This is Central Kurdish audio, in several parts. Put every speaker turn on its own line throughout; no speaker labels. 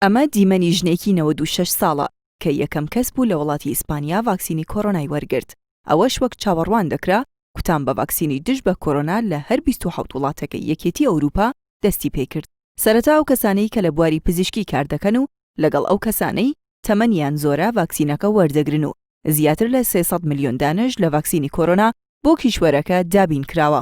ئەمە دیمەنی ژنێکی نەوەد و شەش ساڵە کە یەکەم کەس بوو لە وڵاتی ئیسپانیا ڤاکسینی کۆرۆنای وەرگرت، ئەوەش وەک چاوەڕوان دەکرا کوتان بە ڤاکسینی دژ بە کۆرۆنا لە هەر بیست و حەوت وڵاتەکەی یەکێتی ئەوروپا دەستی پێکرد. سەرەتا ئەو کەسانەی کە لە بواری پزیشکی کار دەکەن و لەگەڵ ئەو کەسانەی تەمەنیان زۆرە ڤاکسینەکە وەردەگرن و زیاتر لە سێ سەد ملیۆن دانەش لە ڤاکسینی کۆرۆنا بۆ کیشوەرەکە دابین کراوە.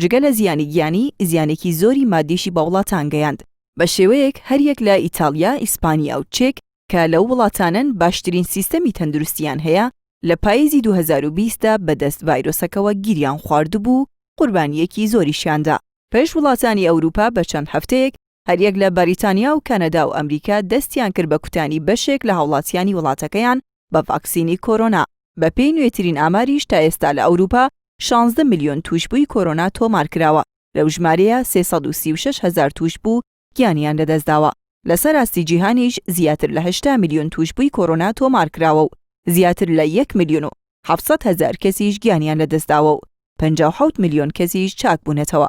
جگە لە زیانی گیانی، زیانێکی زۆری ماددیشی بە وڵاتان گەیاند، بە شێوەیەک هەریەک لە ئیتاڵیا، ئیسپانیا و چێک کە لەو وڵاتانەن باشترین سیستەمی تەندروستییان هەیە، لە پاییزی دوو هەزار و بیست دا بەدەست ڤایرۆسەکەوە گیریان خواردبوو و قوربانییەکی زۆریشیان دا. پێش وڵاتانی ئەوروپا بە چەند هەفتەیەک هەریەک لە بەریتانیا و کەنەدا و ئەمریکا دەستیان کرد بە کوتانی بەشێک لە هاوڵاتیانی وڵاتەکەیان بە ڤاکسینی کۆرۆنا، بەپێی نوێترین ئاماریش تا ئێستا لە ئەوروپا شانزدە ملیۆن تووشبووی کۆرۆنا تۆمارکراوە، لەو ژمارەیە سێ سەد و سی و شەش هەزار تووشبوو گیانیان لەدەستداوە، لەسەر ئاستی جیهانیش زیاتر لە هەشتا ملیۆن تووشبووی کۆرۆنا تۆمارکراوە و زیاتر لە یەک ملیۆن و حەفت سەد هەزار کەسیش گیانیان لەدەستداوە و پەنجا و حەوت ملیۆن کەسیش چاکبوونەتەوە.